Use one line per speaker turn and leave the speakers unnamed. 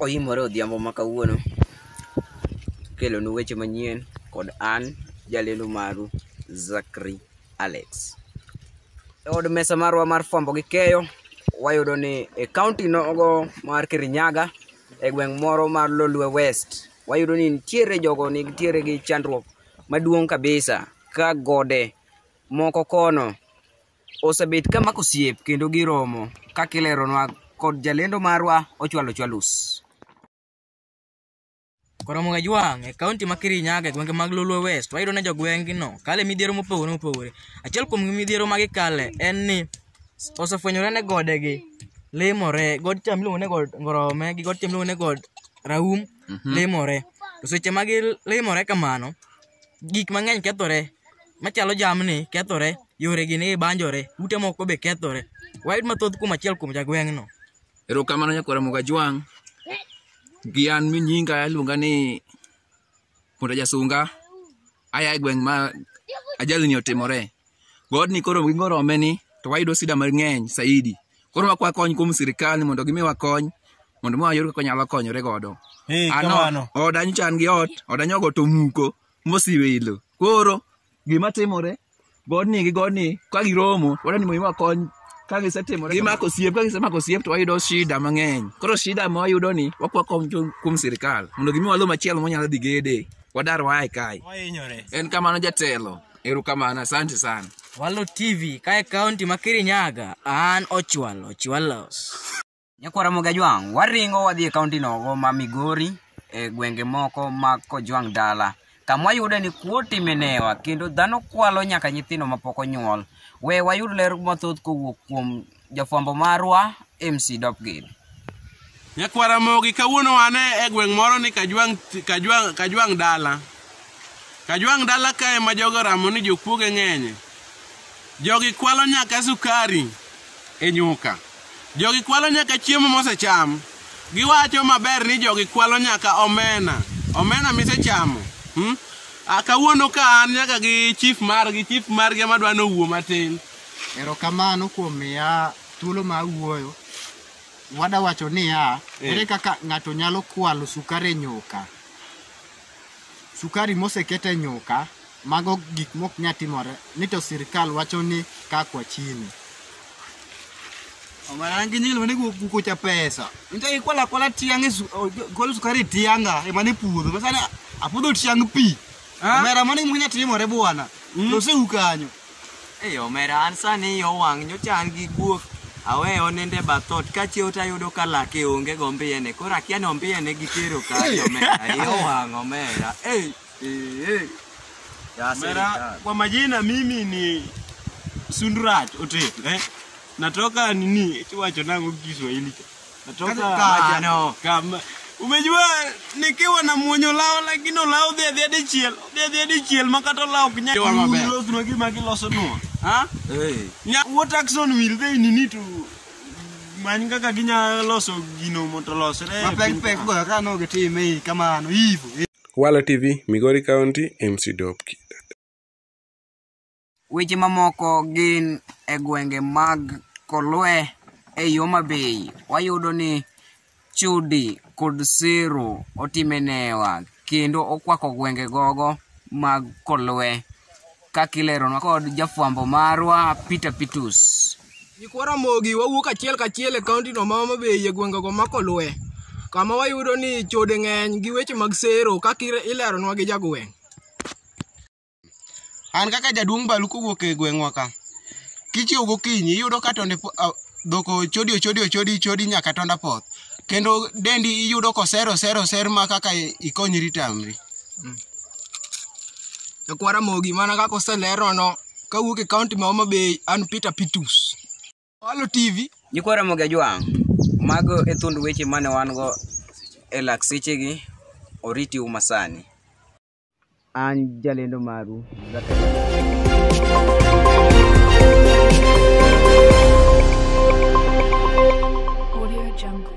Oimore odhiambo ma kawuono kelonu weche manyien kod an jalendo maru Zakri Alex. E od mesa marwa mar fwambo gi keyo, wayudo ni e kaunti nogo mar Kirinyaga, e gweng' moro mar Lolwe West, wayudo ni nitiere jogo nitiere gi chandruok maduong' kabisa ka gode moko kono osebet ka mako osiep kendo giromo kaka ileronwa kod jalendo marwa Ochwalo Chwalus.
Koromo e Jwang' e kaunti ma Kirinyaga e gwenge mag Lolwe West, wayudo ni jogweng'gino kale midhiero mopogore opogore. Achiel kuom midhiero ma gikale en ni osefwenyore ne godegi limore, god cha miluongo ni god Ngorome gi god cha miluongo ni god Raum limore. To seche ma gilimore kamano, gik mang'eny kethore machalo jamni kethore, yoregi ni banjore, ute moko be kethore. Wayud mathoth kuom achiel kuom jagweng'no. Erokamano Nyakwar
Ramogi Ajwang'. Gi an mi nyinga aluonga ni Punda Jasunga. Aya e gweng' ma ajalni otimore. Godni koro gi ngorome ni to wayudo sida mang'eny saidi. Koro wakwa kony kuom sirikal ni mondo gimiwa kony mondo mwa yud kaka nyalo konyore godo. Ee, Ano kamano. oda nyocha an gi ot, oda nyogo to muko mosiwe ilo. Koro gima timore godni gi godni ka giromo wadwa ni mondo iwa kony ka gisetimore gimako osiep ka gisemako osiep to wayudo shida mang'eny koro shida ma wayudo ni wakwa kony kuom- kuom sirikal mondo gimiwa lo machielo monyalo dhi gede wadar wae kae Wahinyore. en kamano jatelo erokamano asante sana Walo TV
kae kaunti ma Kirinyaga, an Ochwalo Chwalos. Nyakwara
Mogajwang', waringo wadhi e kaunti nogo ma Migori e gwenge moko ma Kojwang' dala kamwa yude ni kuot imenewa kendo dhano kwalo nyaka nyithindo mapok onyuol. We wayud ler mathoth kowuok kuom jafwambo marwa MC Dopgid. Nyakwara
Mogi, kawuono wan e gweng' moro ni Kajwang', Kajwang', Kajwang' dala. Kajwang' dala kae ma jogo ramo ni jokuoge ng'enye. Jogi kwalo nyaka sukari e nyuka. Jogi kwalo nyaka chiemo mosecham. Giwacho maber ni jogi kwalo nyaka omena. Omena misechamo. Hmm? Ah, kawuono ka an nyaka gi chief margi, chief margi ema dwa nowuo matin. Erokamano
kuom miya thuolo ma awuoyo. Wada wacho niya, Eh. ere kaka ng'ato nyalo kwalo sukari e nyuka? Sukari moseket e nyuka, mago gik mok nya timore ni to sirkal wacho ni ka kwa chini. Omana gi nyil mane guko cha pesa. Nta ikwala kwala tiang e su- o- jo- gol sukari tianga e mane puodho. Masana apuodho tiang pi. Ah. Omera mane munya timore bwana. Mm. To se ukanyo. Ei omera
an sani yo wang' nyocha an gi guok aweyo nende bathot kachiewo to ayudo ka lake onge go mbiyene koro akia ni ombiyene gitero kanye omera yo wang' omera ei ei, ei.
Ya Mera, serikali. kwa majina mimi ni Sundurat Otet eh? Natoka nini kiwacho nango Kiswahili cha Natoka Kaka- maja- no. kama- Umejua nikiwa na mwonyo lao lakini olao dhi adhi hadi chiel. Dhi adhi hadi chiel ma kata olao ok nyal. Kiwa maber. Gilos nwa gima giloso nwa. Ha? Nya- What action will they need to many kaka ginya loso gino mondo olosre. e Mapek piny pek ka. go ka no
gitime hii kamano hivyo. Wala TV,
Migori County, MC Dopki.
Weche mamoko gin e gwenge mag Kolwe e yo mabei wayudo ni Chudi kod Siro otime newa kendo okwako gwenge gogo mag Kolwe kakileronwa kod jafwambo marwa Peter Pitus. Nyikwa Ramogi
wawuok achiel kachiel e kaontino ma Homa Bay e gwengego ma Kolwe kama wayudo ni chode ng'eny gi weche mag sero kaka ileronwa gi jagweng'.
An kaka jaduong' balu kowuok e gweng'wa ka. Kichiew gokinyi iyudo ka tonde po- a- dhok ochodi ochodi ochodi chodi nyaka tonda poth. Kendo dendi iyudo koser oser oser ma kaka ikonyri tamri.
Jakwara Mogi mana kaka oselerono kawuok e kaunti ma Homa Bay an Peter Pitus. Walo TV Nyikwa Ramogi Ajwang',
mago e thund weche mane wan go e lak sechegi, oriti uma sani. An jalendo maru
Audio Jungle.